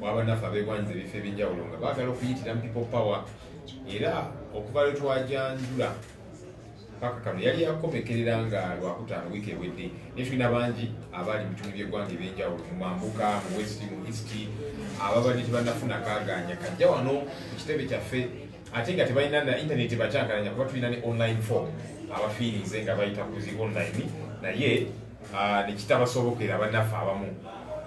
wabanaffe abegwanyiza ebifo ebyenjawulo nga bagala okuyitira mu people power era okuva lwe twajanjula paka kano yali yakomekerera nga lwakutaano wiiki ewedde naye tulina bangi abaali mu bitundu by'eggwanga ebyenjawulo mu mambuka mu west mu east ababadde tebanafuna kaganya kajja wano ku kitebe kyaffe ate nga tebalina na intaneti bakyankalanya kuba tulina ne online form abafiirinze nga bayita ku zi online naye ah, nekitabasobokera banaffe abamu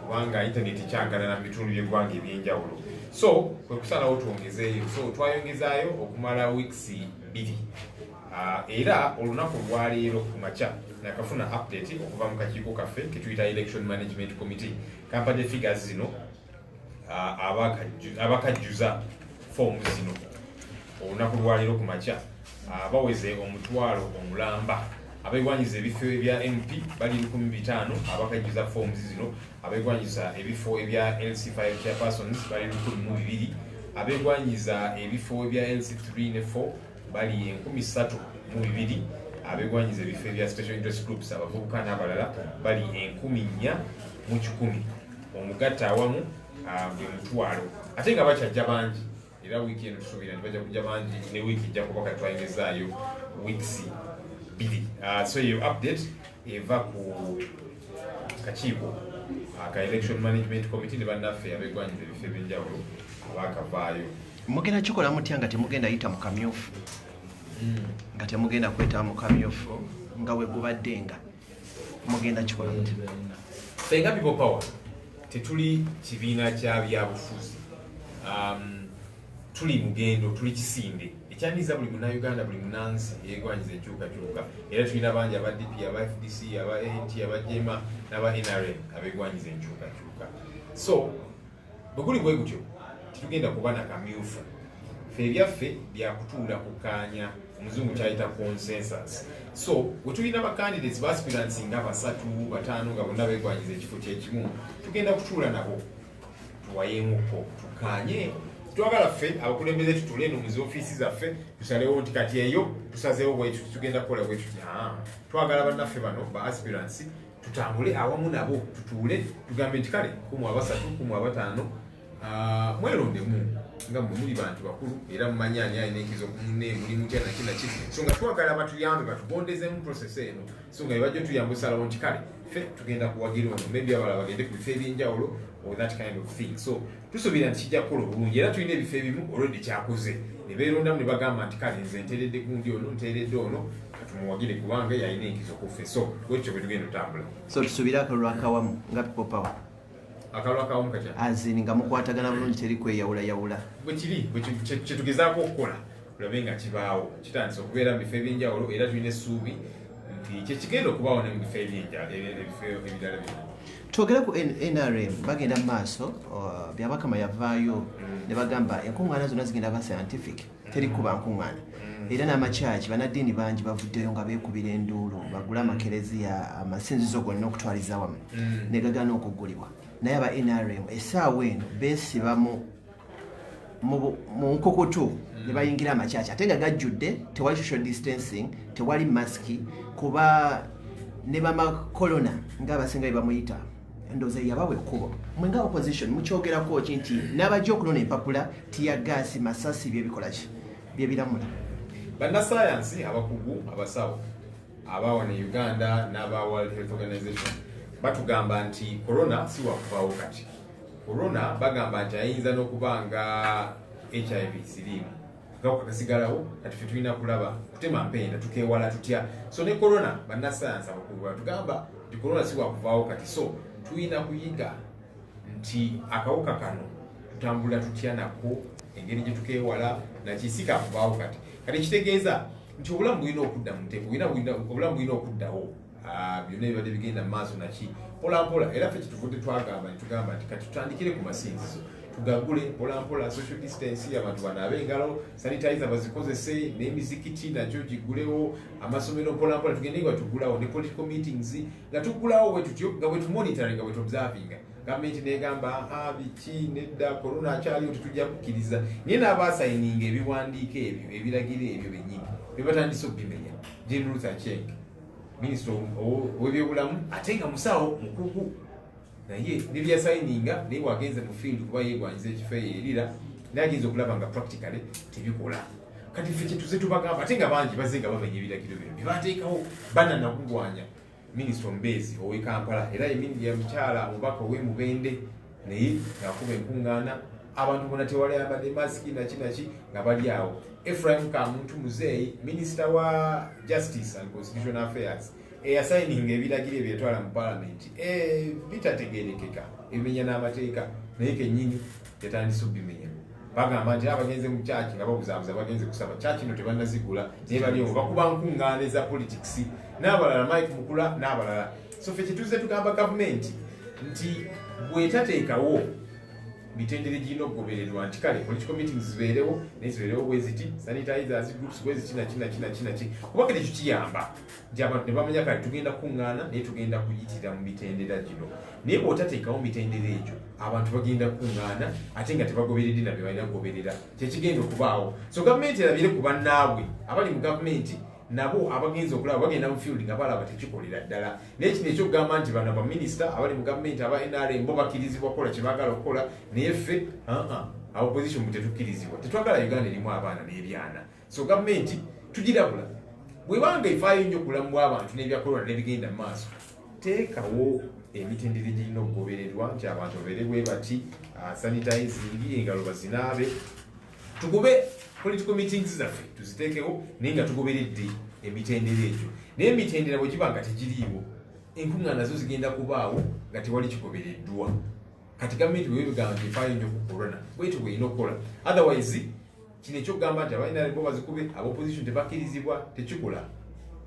kubanga internet ekyangalana mu bitundu by'eggwanga ebyenjawulo so kwe kusalawo twongezeeyo so twayongezaayo okumala weeks bbiri ah, era olunaku olwaleero ku makya nakafuna update okuva mu kakiiko kaffe ketuyita election management committee kampade figures zino abakajjuza foomu zino olunaku lwaliro ku makya baweze omutwalo omulamba abegwanyiza ebifo ebya mp bali lukumi bitaano abakajjuza foomu zino abegwanyiza ebifo ebya lc5 chairpersons bali lukumi mu bibiri abegwanyiza ebifo ebya lc3 ne 4 bali enkumi ssatu mu bibiri abegwanyiza ebifo ebya special interest groups abavubuka n'abalala bali enkumi nnya mu kikumi omugatta awamu ah, buli mutwalo ate nga bakyajja bangi era wiiki eno tusuubira nti bajja kujja bangi ne wiiki ejja kuba kati twayingizaayo weeks bbiri ah, so eyo update eva ku kakiiko ah, ka election management committee ne bannaffe abegwanyira ebifo ebyenjawulo abaakavaayo mugenda kikola mutya nga temugenda yita mu kamyufu hmm. nga temugenda kwetaba mu kamyufu nga wegubadde nga mugenda kikola muti fenga people power tetuli kibiina kya byabufuzi um, tuli mugendo tuli kisinde ekyanyiza buli munauganda buli munansi yegwanyiza enkyukakyuka era tulina bangi aba dp aba fdc aba ant aba jema naba nrm abegwanyiza enkyukakyuka so bwe guli bwe gutyo tetugenda kuba na kamyufu fe ebyaffe byakutuula kukaanya omuzungu kyayita consensus so wetulina bacandidates baspirants nga basatu bataano nga bonna begwanyiza ekifo kyekimu tugenda kutuula nabo tuwayemuko tukanye twagala ffe abakulembeze tutule no muzi ofiisi zaffe tusalewo nti kati eyo tusazewo bwetu tugenda kukola bwetu twagala bannaffe bano ba aspirants tutambule awamu nabo tutuule tugambe nti kale kumu abasatu kumu abataano ah, mwelondemu nga mwe muli bantu bakulu era mumanyi ani alina enkizo ku munne muli mutya naki naki so nga twagala batuyambe batugondezemu process eno so nga bebajja tuyamba osalawo nti kale fe tugenda kuwagira ono maybe abalala bagende ku bifo ebyenjawulo or that kind of thing so tusuubira nti kijja kukola obulungi era tulina ebifo ebimu olwedde kyakoze ne beerondamu ne bagamba nti kale nze nteredde gundi ono nteredde ono tumuwagire kubanga yalina enkizo kuffe so wekyo bwetugenda otambula so tusubire akalulu akawamu nga people power akalulu akawamu katya azini nga mukwatagana bulungi teri kweyawulayawula bwekiri kyetugezaako okukola tulabe nga kibaawo kitandisa okubeera mu bifo ebyenjawulo era tulina essuubi nti kyekigenda okubaawo ne mu bifo ebyenjawuloebifo ebirala bino twogere ku nrm bagenda mu maaso uh, byabakama yavaayo mm. ne bagamba enkuŋŋaana zonna zigenda ba scientific teri kuba nkuŋŋaana mm. era n'amakyaki banaddiini bangi bavuddeyo nga beekubira enduulu bagula amakereziya amasinzizo gonna okutwaliza wamu mm. ne gagana okuggulibwa naye aba nrm essaawa eno beesiba mu nkukutu mm. ne bayingira amakyaki ate nga gajjudde tewali social distancing tewali masiki kuba ne bamakolona ng'abasinga bye bamuyita endowooza yabawa ekkubo mwe nga opposition mukyogerako ki nti n'abajja okunona empapula tiyagaasi masasi byebikola ki byebiramula bannasayansi abakugu abasawo abaawa ne uganda n'aba world health organization batugamba nti corona si wakuvaawo kati corona bagamba nti ayinza n'okuba nga hiv siriimu gakwa kasigalawo kati fe tulina kulaba kutema mpenda tukewala tutya so ne corona bannasayansi abakulu batugamba nti corona si wakuvaawo kati so tulina kuyiga nti akawuka kano tutambula tutya nako engeri gye tukewala nakisi kakuvaawo kati kati ekitegeeza nti obulamu bulina okudda mu nteeko obulamu bulina okuddawo Ah, byonna ebibadde bigenda maaso naki mpolampola era fe kyetuvudde twagamba netugamba nti kati tutandikire ku masinzizo tugagule mpolampola social distance abantu banaabe engalo sanitize bazikozese n'emizikiti nagyo gigulewo amasomero mpolampola tugende nga tugulawo ne political meetings nga tugulawo wetutyo nga wetumonitoring nga wetobservinga gavumenti negamba ah, biki nedda korona akyaliwo tetujja kukkiriza naye n'abaasayininga ebiwandiiko ebyo ebiragiro ebyo bennyini bebatandise okubimenya general tachenge minisita owebyobulamu ate nga musawo mukugu naye nebyasayininga naye wagenze mu field kuba yegwanyiza ekifo eyo erira naye agenza okulaba nga practically tebikola kati fe kyetuze tubagamba ate nga bangi baze nga bamenya ebiragiro bino byebateekawo bana nagugwanya minisita omubeezi owekampala era mukyala omubaka owemubende naye ngakuba enkuŋŋaana abantu bona tewali abadde masiki naki naki nga bali awo efraim kamuntu muzeeyi minisita wa justice and constitution affairs eyasayininga ebiragiro ebyetwala mu palamenti eh, bitategerekeka ebimenya n'amateeka naye kenyini yatandise okubimenya bagamba nti abagenze mu kyaki nga babuzabuza bagenze kusaba kyaki no tebanazigula naye bali omu bakuba nkuŋŋaana eza politics n'abalala mike mukula n'abalala so fe kituuze tugamba gavumenti nti bwetateekawo mitendere girina okugobererwa nti kale politi committing zibeerewo naye zibeerewo bweziti sanitizers groups bweziti nakinakinaki kuba kati ekyo kiyamba nti abantu ne bamanya kale tugenda kukuŋŋaana naye tugenda kuyitira mu mitendera gino naye bwotateekawo mitendera egyo abantu bagenda kukuŋŋaana ate nga tebagoberedde na bye balina kugoberera kyekigenda okubaawo so gavumenti erabire ku bannaabwe abali mu gavumenti nabo abagenzi okulaba bagenda mu field nga balaba tekikolera ddala naye kino ekyokugamba nti bano baminisita abali mu gavumenti aba nrm bo bakirizibwa kukola kyebagala okukola naye ffe opposition mu tetukirizibwa tetwagala uganda erimu abaana n'ebyana so gavumenti tugirabula bwebanga efaayo nnyo obulamu bw'abantu n'ebyakolona n'ebigenda mu maaso teekawo emitendera egirina okugobererwa nti abantu babeere bwe bati ah, sanitizing engalo bazinaabe tugube political meetings zaffe tuziteekewo naye nga tugoberedde emitendera egyo naye emitendera bwe giba nga tegiriiwo enkuŋŋaana nazo zigenda kubaawo nga tewali kigobereddwa kati gavumenti bwe bigamba nti efaayo nnyo ku corona bwetyo bweyina okukola otherwise kino ekyokugamba nti abainarebo bazikube abaopposition tebakkirizibwa tekikola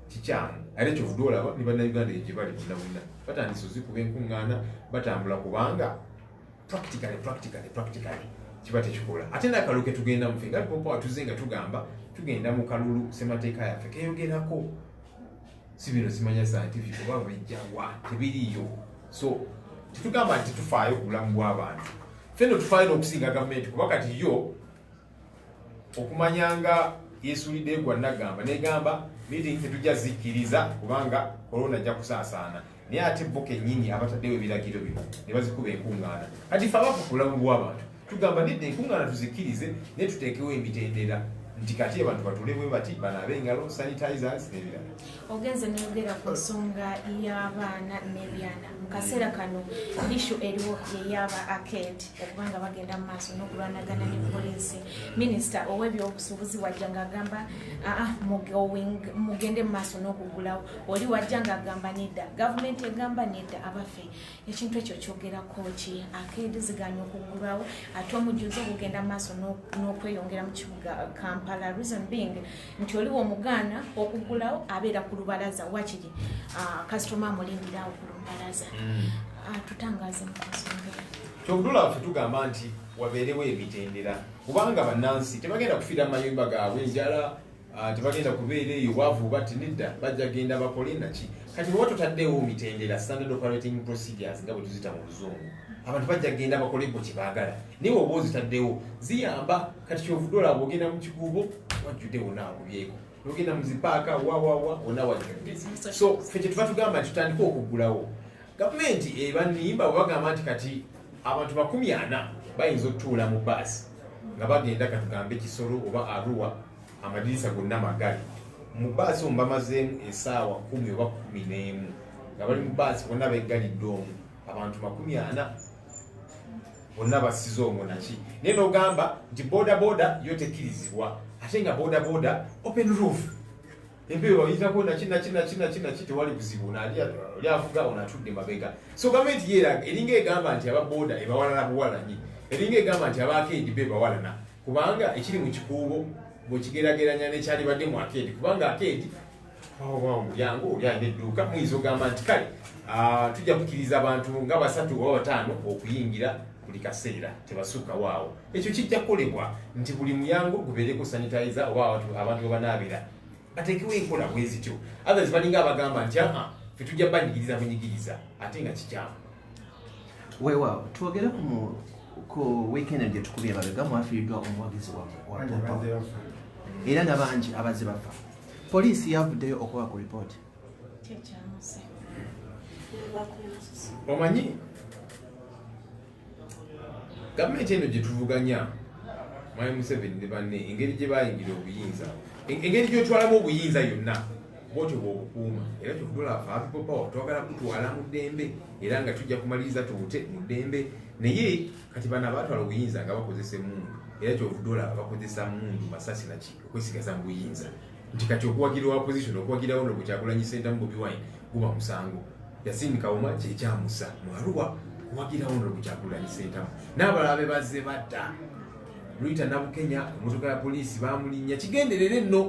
kikyamu ate kyovude olaba ne bannayuganda egye bali bonna bonna batandise ozikuba enkuŋŋaana batambula kubanga practically practically practically kiba tekikola ate nakalulu ketugenda mufe nga popa watuze nga tugamba tugenda mu kalulu semateeka yaffe keyogerako si bino simanya scientific oba bejjawa tebiriyo so tetugamba nti tufaayo ku bulamu bw'abantu ffe no tufaayo n'okusinga gavumenti kuba kati yo okumanya nga yesulidde egwa nagamba negamba meeting tetujja zikkiriza kubanga korona ajja kusaasaana naye ate bo kenyini abataddewo ebiragiro bino ne bazikuba enkuŋŋaana kati fe abafu ku bulamu bw'abantu tugamba nedda enkuŋŋaana tuzikkirize ne tuteekewo emitendera nti kati abantu batule bwe bati banaabe engalo sanitizers n'ebirala ogenze noyogera ku nsonga y'abaana n'ebyana mu kaseera kano ishu eriwo yeyaba aked okuba nga bagenda mu maaso n'okulwanagana ne poliisi minisita ow'ebyobusuubuzi wajja ng'agamba aa ah, mugende mu maaso n'okugulawo oli wajja ng'agamba nedda gavumenti egamba nedda abaffe ekintu ekyo kyogerako ki aked ziganya okugulwawo ate omujjuzi okugenda mu maaso n'okweyongera mu kibuga kampala reason being nti oliwo omugaana okugulawo abeera ku lubalaza wakiri ah, kasitoma amulindirawo ku lubalaza mm. ah, tutangaze mukusonga kyokutula ffe tugamba nti wabeerewo emitendera kubanga bannansi tebagenda kufiira mu mayumba gaabwe enjala ah, tebagenda kubeera eyo bwavu bati nedda bajja genda bakole naki kati bwewa tutaddewo mitendera standard operating procedures nga bwe tuzita mu luzungu abantu bajja genda bakole bwe kyebaagala naye oba ozitaddewo ziyamba kati kyovude olaba ogenda mu kikuubo wajjudde wona akubyeko nogenda mu zipaaka wawawa wona wajjudde so fe kyetuva tugamba nti tutandika okuggulawo gavumenti ebanimba bwe bagamba nti kati abantu makumi ana bayinza okutuula mu baasi nga bagenda katugambe kisolo oba aruwa amadirisa gonna magali mu baasi omu bamazeemu esaawa kumi oba kumi n'emu nga bali mu baasi bonna beggalidde omu abantu makumi ana bonna basiza omwo naki naye nogamba nti boda boda yo tekirizibwa ate nga boda boda open roof empewo bayitako naki naki naki naki naki tewali buzibu oli avuga ono atudde mabega so gavumenti yeraga eringa egamba nti aba boda ebawalana buwalanyi eringa egamba nti abakeedi be bawalana kubanga ekiri mu kikuubo bwekigerageranya nekyalibadde mu akeedi kubanga akeedi mulyango oli alina edduuka muyinza ogamba nti kale ah, tujja kukiriza abantu nga basatu oba bataano okuyingira buli kaseera tebasukkawo awo ekyo kijja kukolebwa nti buli muyango gubeereko sanitayiza oba abantu webanaabira bateekewo enkola bwezityo others balinga abagamba nti aa ah, fe tujja banyigiriza bunyigiriza ate nga kikyamu weewaawo twogere ku weekend gye tukubye babega mwafiiriddwa omuwagizi wa era nabangi abazze bafa Poliisi yavuddeyo okuba ku lipooti. Omanyi gavumenti eno gye tuvuganya Mwami Museveni ne banne engeri gye bayingira obuyinza engeri gy'otwalamu obuyinza yonna bwotyo bwobukuuma era kyokudula afapipopawa twagala kutwala mu ddembe era nga tujja kumaliriza tubute mu ddembe naye kati bana batwala obuyinza nga bakozesa emundu era kyovudola bakozesa mundu masasi naki okwesigaza mu buyinza nti kati okuwagira opposition okuwagirawo no kukyagulanyi sentamu bobi wine guba musango yasini kawuma kyekyamusa mwaluwa kuwagirawo no kukyagulanyi sentamu n'abalala be bazze badda luyita nabukenya emotoka ya poliisi bamulinnya kigenderera enno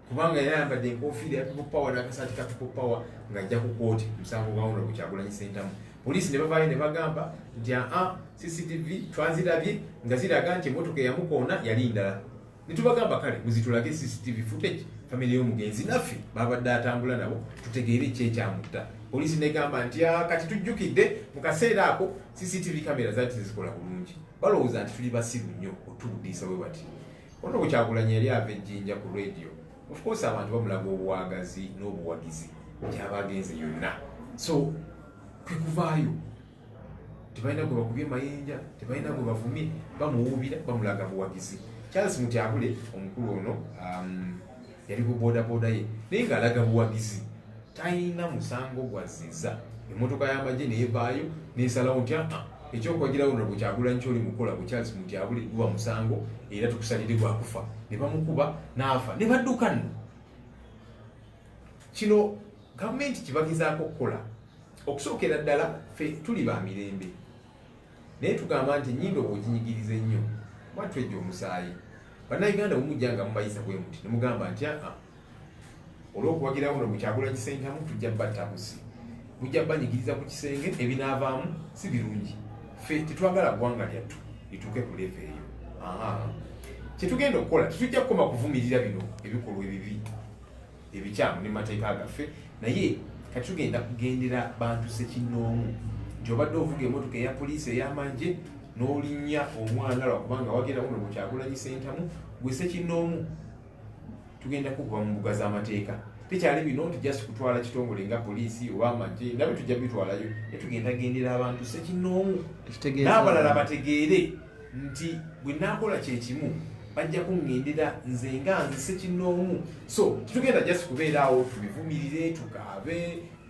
kubanga era yambadde enkofiira ya people power n'akasaati ka people power ng'ajja ku kooti musango gwawono ku kyagulanyi sentamu Poliisi ne bavaayo ne bagamba nti aa CCTV twazirabye nga ziraga nti emmotoka eyamukoona yali ndala. Ne tubagamba kale muzitulage CCTV footage famire y'omugenzi naffe baabadde atambula nabo tutegeere ekyekyamutta. Poliisi negamba nti aa kati tujjukidde mu kaseera ako CCTV kamera zaali tezikola bulungi balowooza nti tuli basiru nnyo otubudiisa we bati. Ono bukyagulanyi yali ava ejjinja ku radio. Of course abantu bamulaga obuwagazi n'obuwagizi gyaba agenze yonna. So kwe kuvaayo tebalina gwe bakubye mayinja, tebalina gwe bavumye, bamuwuubira, bamulaga buwagizi. Charles Mutyabule omukulu ono um, yali ku bodaboda ye naye ng'alaga buwagizi talina musango gwazziza emmotoka y'amagye neevaayo nesalawo nti aa ah, ekyokwagirawo nolwo kyagulanyi kyoli mukola ku charles mutyabule guba musango era tukusalire gwakufa ne bamukuba n'afa ne badduka nno kino gavumenti kibagezaako okukola okusookera ddala fe tuli ba mirembe naye tugamba nti enyindo bwoginyigiriza ennyo mwattu ejja omusaayi bannayuganda bumujja nga mubayisa bwe muti ne mugamba nti aa ah, ah, olw'okuwagirawo no mukyagula kisentamu tujja batta busi mujja banyigiriza ku kisenge ebinaavaamu si birungi ffe tetwagala ggwanga lyattu lituuke ku leevu eyo kyetugenda okukola tetujja kukoma kuvumirira bino ebikolwa ebibi ebikyamu ne mateeka gaffe naye kati tugenda kugendera bantu sekinnoomu nti obadde ovuga emotoka eya poliisi ey'amagye n'olinya omwana lwakubanga wagenda kuno mukyagulanyi sentamu gwe sekinnoomu tugenda kukuba mu mbuga z'amateeka tekyali bino nti just kutwala kitongole nga poliisi oba amagye nabyo tujja bitwalayo ne tugenda gendera abantu sekinnoomu n'abalala bategeere nti bwe naakola kye kimu bajja kuŋŋendera nze nga nzise kinnoomu so tetugenda just kubeeraawo tubivumirire tukaabe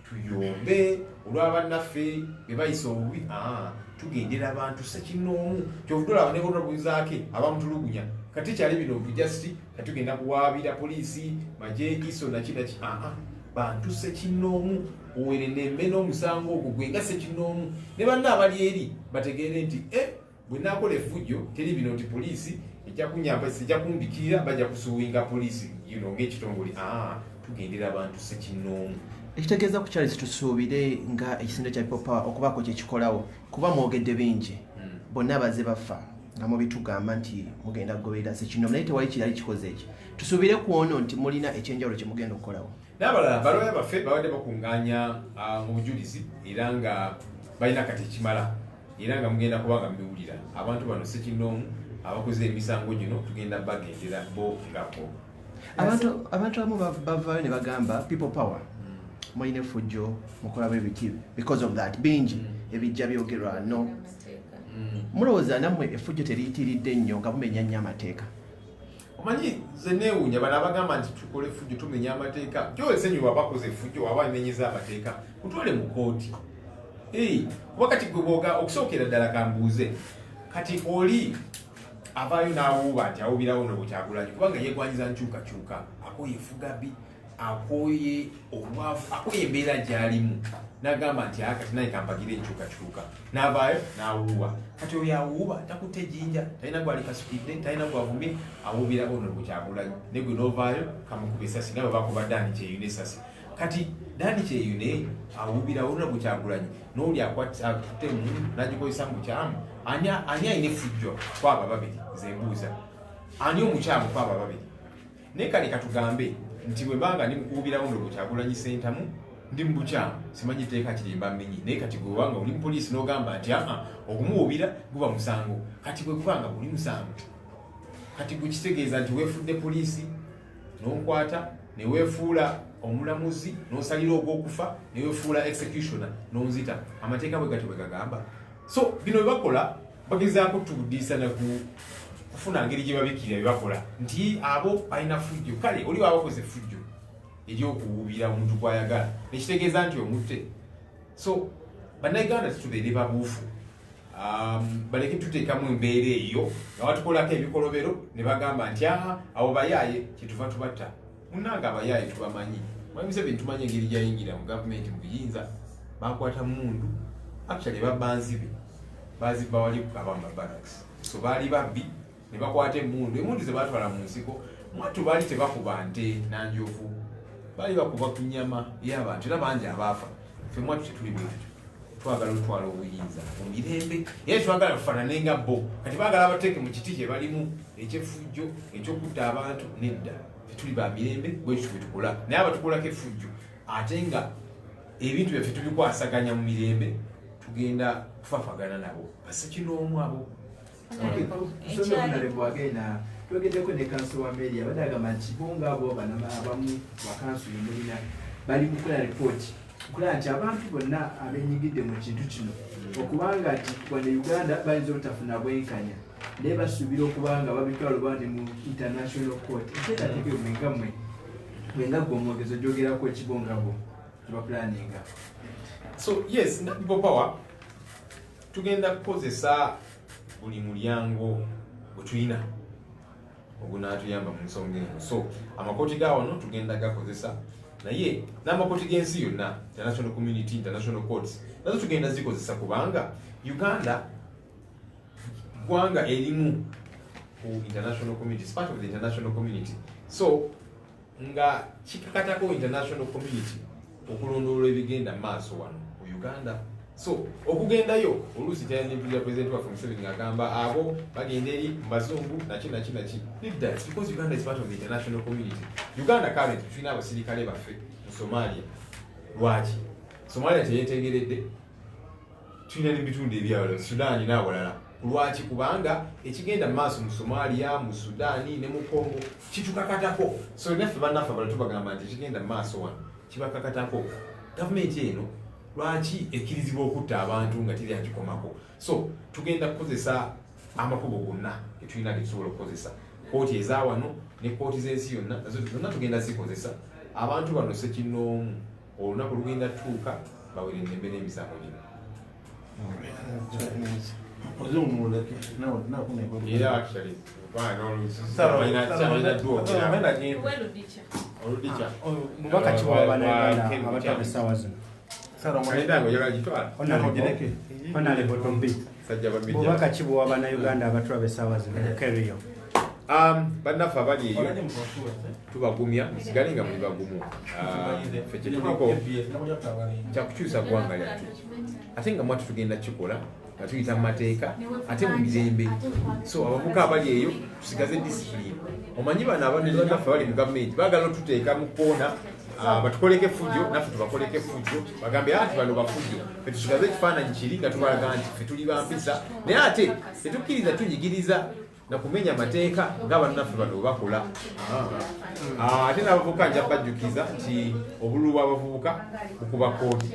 tuyombe olw'abannaffe be bayisa obubi aa tugendera abantu sekinnoomu kyovudolaba nekotobuzaake abamutulugunya kati kyali bino ntu just kati tugenda kuwaabira poliisi majegiso naki naki aa bantu sekinnoomu owerenembe n'omusango ogwo gwe nga sekinoomu ne banna abali eri bategeere nti e bwe nakola efujjo teri bino nti poliisi ejja kunyamba sijja kumbikirira bajja kusuwinga poliisi yino ng'ekitongole aa ah, tugendera abantu sekinoomu ekitegeeza ku charles tusuubire nga ekisinde kya people power okubaako kyekikolawo kuba mwogedde bingi hmm. bonna abaze bafa nga mubitugamba nti mugenda kugoberera sekinoomu naye tewali kirali kikoze eki tusuubire ku ono nti mulina ekyenjawulo kyemugenda okukolawo n'abalala balooya baffe babadde bakungaanya ah, mu bujulizi era nga balina kati ekimala era nga mugenda kuba nga mubiwulira abantu bano sekinoomu abakoze emisango gino tugenda bagendera bo ngako abantu abamu bavaayo ne bagamba people power hmm. mulina efujjo mukolamu ebiki because of that bingi hmm. ebijja byogerwa no hmm. mulowooza nammwe efujjo teriyitiridde nnyo nga mumenya nnyo amateeka omanyi nze neewuunya bano abagamba nti tukole effujjo tumenya amateeka gyowesenyu wabakoze effujjo waba nenyeza amateeka kutwale mu kooti kuba kati gweboga okusookera ddala kambuuze kati oli avaayo n'awuuba nti awubirawo nobukyagulanyi kubanga yegwanyiza nkyukakyuka akoye efugabi akooye obwavu akooye embeera gyalimu nagamba nti aka tinaye kampagira enkyukakyuka navaayo nawuuba kati oyo awuuba takutte ejinja talina gwalikasukidde talina gwavumye awuubira ono gukyagulanyo negwe novaayo kamukuba esasi nga bwebakuba dani kyeyune esasi kati dani kyeyune awuubira ono gukyagulanyi nooli akutte mu nagikozesa mukyamu ani alina efujjo kwabo ababiri zembuuza ani omukyamu kwabo ababiri Naye kale katugambe nti bwe banga ndi mukuwubira wundo ku Kyagulanyi Ssentamu ndi mu bukyamu simanyi tteeka kiri mba mmenyi naye kati gwe wanga oli mu poliisi n'ogamba nti aa okumuwubira guba musango kati bwe guba nga guli musango kati gwe kitegeeza nti weefudde poliisi n'onkwata ne weefuula omulamuzi n'osalira ogw'okufa ne weefuula executioner n'onzita amateeka bwe gatyo bwe gagamba so bino bye bakola bagezaako tubudiisa nagu kufuna ngeri gye babikira bye bakola nti abo balina fujjo kale oli baba bakoze fujjo ery'okuwuubira omuntu gw'ayagala nekitegeeza nti omutte so bannayuganda tutubeere babuufu um, baleke tuteekamu embeera eyo nga batukolako ebikolobero ne bagamba nti aha abo bayaaye kyetuva tubatta munange abayaaye tubamanyi mwami museveni tumanyi engeri gyayingira mu gavumenti mu buyinza bakwata mundu actually babanzi be bazibba wali kukaba mu mabaraks so baali babbi ne bakwata emundu emundu ze batwala mu nsiko mwattu baali tebakuba nte nanjovu baali bakuba ku nyama y'abantu era bangi abaafa ffe mwatu tetuli bwetutyo twagala otwala obuyinza mumirembe era twagala tufanane nga bo kati bagala abateeke mu kiti kyebalimu ekyefujjo ekyokutta abantu nedda tetuli ba mirembe bwekyo bwetukola naye abatukolako efujjo ate nga ebintu byaffe tubikwasaganya mu mirembe tugenda kufafagana nabo basekinoomu abo twogedeko ne kanso wa meri abadde agamba nti bonga abo abamu bakanso yemulina bali mukola ripooti okulaba nti abantu bonna abenyigidde mu kintu kino okubanga nti wane uganda bayinza obutafuna bwenkanya naye basuubira okuba nga babitwala oba ne mu international court ekyetateeka eyo mwenga mwe mwenga gwe omwogezo gyogerako ekibongabo kibapulaninga so yes bopower tugenda kukozesa buli mulyango gwetulina ogunaatuyamba mu nsonga eno so amakooti ga wano tugenda gakozesa naye n'amakooti g'ensi yonna international community international courts nazo tugenda zikozesa kubanga uganda ggwanga erimu ku international community part of the international community so nga kikakatako international community okulondoola ebigenda maaso wano mu uganda so okugendayo oluusi kyayanyimpiza president waffe museveni ngagamba abo bagenda eri mubazungu naki naki naki that's because uganda is part of the international community uganda current tulina abasirikale baffe mu somalia lwaki somalia teyetegeredde tulina nebitundu ebyawala sudaani n'awalala lwaki kubanga ekigenda mu maaso mu somalia mu sudaani ne mu congo kitukakatako so naffe bannaffe abala tubagamba nti ekigenda mu maaso wano kibakakatako gavumenti eno lwaki ekkirizibwa okutta abantu nga teri akikomako so tugenda kukozesa amakubo gonna getulina getusobola okukozesa kooti ezawano ne kooti z'ensi yonna nazo zonna tugenda zikozesa abantu bano sekinoomu olunaku lugenda tuuka bawere eddembe n'emisango gino mubaka kiwabanaabataba essaawa zino bubaka ki bwowa bannayuganda abatulaba essaawa zino keriyo um, bannaffe abali eyo tubagumya musigale nga muli bagumu uh, fe kyetuliko kyakukyusa ggwanga lyattu ate nga mwatu tugenda kikola nga tuyita mu mateeka ate mu mirembe so abavuka abali eyo tusigaze disipulini omanyi bano abanaffe abali mu gavumenti bagala otuteeka mu koona Ah, batukoleko effujjo naffe tubakoleko effujjo bagambe anti bano bafujjo fetusigaze ekifaananyi kiri nga tubalaga nti fe tuli bampisa naye ate tetukkiriza tunyigiriza nakumenya amateeka nga bannaffe bano webakola ah, ate nabavubuka nja bajjukiza nti obululu bwabavubuka bukuba kooti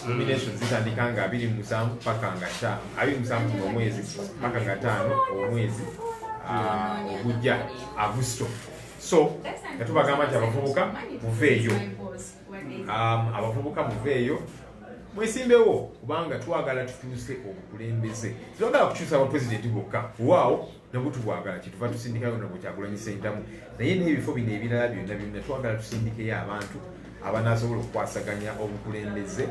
nomination zitandika nga abiri musanvu paka nga ta abiri musanvu nomwezi paka nga taano omwezi ah, ogujja agusto so nga tubagamba nti abavubuka muveeyo um, abavubuka muveeyo mwesimbewo kubanga twagala tutuuse obukulembeze tetwagala kukyusa aba pulezidenti bokka waawo nabwo tubwagala kyetuva tusindikayo nabwe kyagulanyi sentamu naye n'ebifo bino ebirala byonna byonna twagala tusindikeyo abantu abanasobola okukwasaganya obukulembeze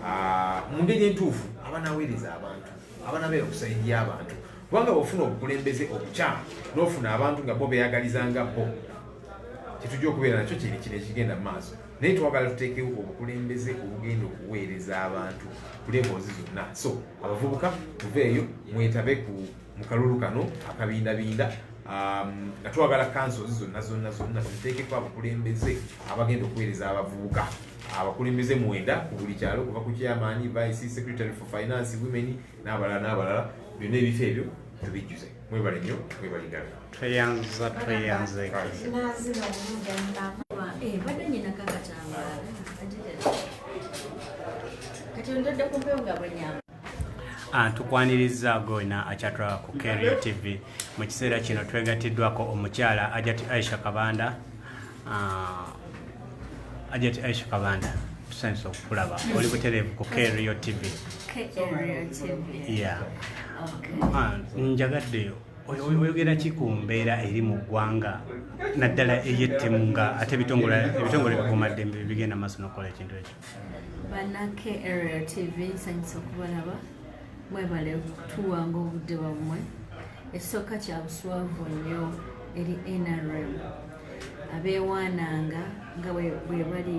ah, mu ngeri entuufu abanaweereza abantu abanabeera okusaidia abantu kubanga bwofuna obukulembeze obukyamu nofuna abantu nga bo beyagaliza nga bo kyetujja okubeera nakyo kiri kino ekigenda mu maaso naye twagala tuteekewo obukulembeze obugenda okuweereza abantu ku levels zonna so abavubuka tuveeyo mwetabe ku mu kalulu kano akabindabinda um, nga twagala kansozi zonna zonna zonna tuteekeko abakulembeze abagenda okuweereza abavubuka abakulembeze mwenda ku buli kyalo kuva ku kyamaanyi vice secretary for finance women n'abalala n'abalala byonna ebifo ebyo tubijjuze mwebale nnyo mwebale ddala tweyanziza tweyanze Ah, tukwaniriza gona akyatulaba ku kerio tv mu kiseera kino twegatiddwako omukyala ajati aisha kabanda Ah, ajati aisha kabanda tusanyusa okukulaba oli butereevu ku krio tv ya ah, njagadde oyogera ki ku mbeera eri mu ggwanga naddala eyettemu nga ate ebitongole bikuumaddembe bigenda maaso nokukola ekintu ekyo banake area tv nsanyusa okubalaba mwebale tuwanga obudde bwammwe ekisooka kyabuswavu nnyo eri nrm abeewaananga nga bwe bali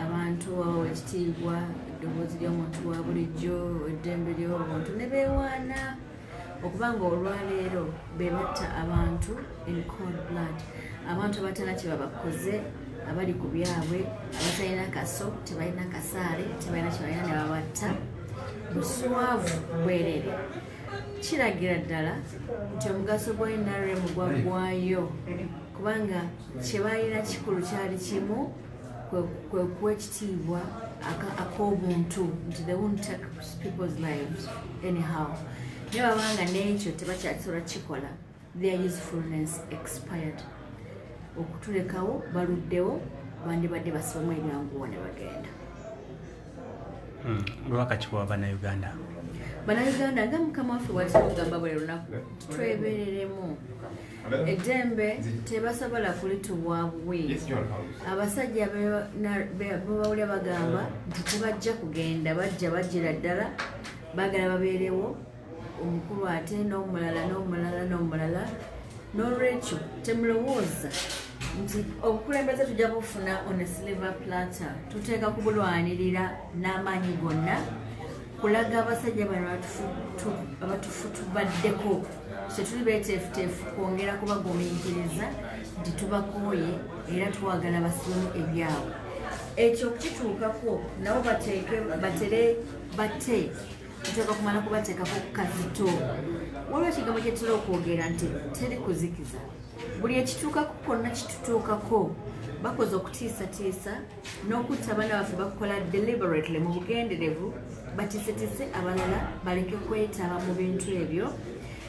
abantu abawa ekitiibwa eddoboozi ly'omuntu wa bulijjo eddembe ly'obuntu ne beewaana okuba nga olwaleero be batta abantu in cold blood abantu abatana kye babakoze abali ku byabwe abatalina kaso tebalina kasaale tebalina kyebalina ne babatta buswavu bwerere kiragira ddala nti omugaso gwa nrm gwaggwayo kubanga kyebalina kikulu kyali kimu kwekuwa ekitiibwa ak'obuntu nti they won't take people's lives anyhow naye babanga n'ekyo tebakyakisobola kikola their usefulness expired okutulekawo baluddewo bandibadde basibamu ebyanguwa ne bagenda hmm, lwaka kiwa banauganda banauganda nga mukama waffe bwatugamba buli lunaku twebereremu eddembe tebasobola kulituwa buwi abasajja bebawulya bagamba nti tebajja kugenda bajja bajjira ddala bagala babeerewo omukulu ate n'omulala n'omulala n'omulala n'olwekyo temulowooza nti obukulembeze tujja bufuna on a silver platter tuteeka kubulwanirira n'amaanyi gonna kulaga abasajja bano abatufutubaddeko kyetuli beteefuteefu kwongera kubagumiikiriza nti tubakooye era twagala basimu ebyabwe ekyo okukituukako nabo bateeke batere bate tuteeka kumala kubateekako kazito waliwo ekigambo kyetera okwogera nti teri kuzikiza buli ekituukako konna kitutuukako bakoze okutiisatiisa n'okutta abaana baffe bakukola deliberately mu bugenderevu batiisetiise abalala baleke kwetaba mu bintu ebyo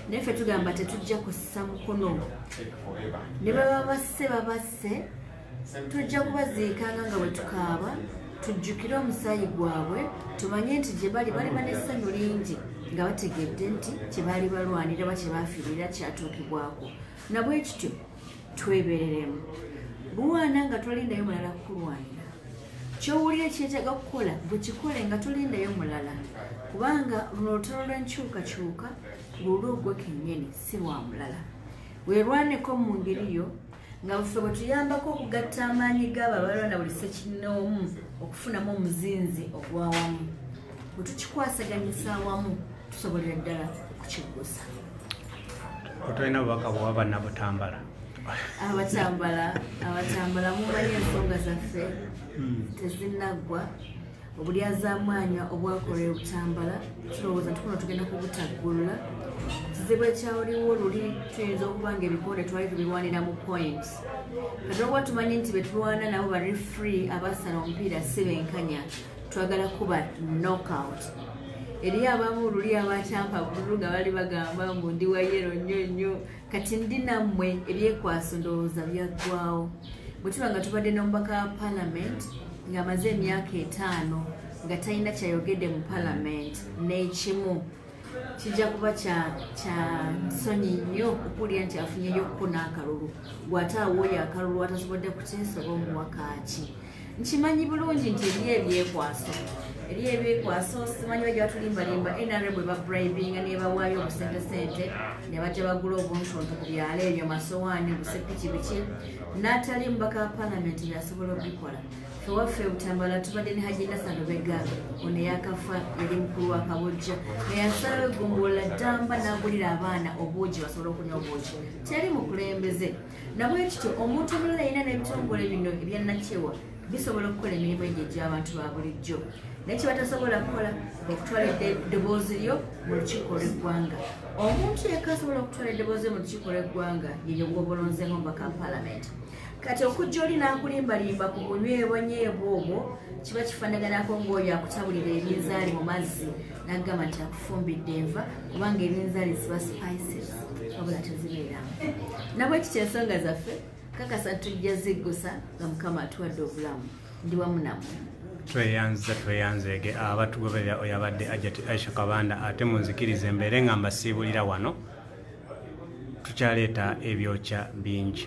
naye ffe tugamba tetujja kussa mukono ne baba basse babasse tujja kubaziikanga nga bwe tukaaba tujjukire omusaayi gwabwe tumanye nti gye bali baliba n'essanyu lingi nga bategedde nti kye baali balwanira ba kye baafiirira kyatuukibwako nabwe kityo twebereremu buwaana nga tolindayo mulala kukulwanira kyowulire kyetaga okukola bwekikole nga tolindayo mulala kubanga luno olutalo lw'enkyukakyuka lulwo gwe kennyini si lwa mulala werwaneko mu ngeri yo nga buffe bwe tuyambako okugatta amaanyi g'abo abalwana buli sekinnoomu okufunamu omuzinzi ogw'awamu bwe tukikwasaganyisa awamu tusobolera ddala okukiggusa otolina bubaka bwa bana butambala abatambala abatambala mumanyi ensonga zaffe hmm. tezinaggwa obulyazamwanya obwakola ebutambala tulowooza tukuno tugenda kubutaggulula kizibu ekyawuliwo luli tuyinza okuba nga ebikonde twali tubirwanira mu point kati olwokuba tumanyi nti betulwana nabo ba refree abasala omupiira si benkanya twagala kuba knockout eriyo abamu luli abakyampa bululu nga bali bagamba mbu ndi wayero nnyo nnyo kati ndi nammwe ebyekwaso ndowooza byaggwawo bwe tuba nga tubadde n'omubaka wa palamenti ng'amaze emyaka etaano nga talina kyayogedde mu palamenti n'ekimu kijja kuba kya nsonyi nnyo okuwulira nti afunyeyo okukuna akalulu gw'ate awooyo akalulu atasobodde kukyesoba omuwakaaki nkimanyi bulungi nti eriyo ebyekwaso eriyo ebyekwaso simanyi bajja batulimbalimba nra bwe babribinga nebawaayo obusente sente ne bajja bagula obuntuntu ku byalo ebyo masowaani busepiki biki natali mubaka wa palamenti yasobola okubikola ewaffe butambala tubadde ne hajina salubega ono eyakafa yali mukulu wa kabojja neyasalawo egombolola ddamba n'agulira abaana obuugi basobole okunywa obuugi teri mukulembeze nabwekityo omuntu omulala yina n'ebitongole bino ebyannakyewa bisobola okukola emirimu egyo egy'abantu ba bulijjo naye kyebatasobola kukola okutwala eddoboozi lyo mu lukiiko lw'eggwanga omuntu yekka asobola okutwala eddoboozi lyo mu lukiiko lw'eggwanga yeyo gwobolonzemu mbaka palamenti kati okujja oli n'akulimbalimba ku bunywebonyeebwa obwo kiba kifaanaganako ng'oyo akutabulira ebinzaali mu mazzi nagamba nti akufumbidde enva kubanga ebinzali ziba spices wabula tezibeeramu nabwekiki ensonga zaffe kakasa tujja ziggusa nga mukama atuwadde obulamu ndi wamu namwe tweyanziza tweyanzeege abatugoberera oyo abadde ajati aisha kabanda ate munzikiriza embeere nga mbasiibulira wano tukyaleeta ebyokya bingi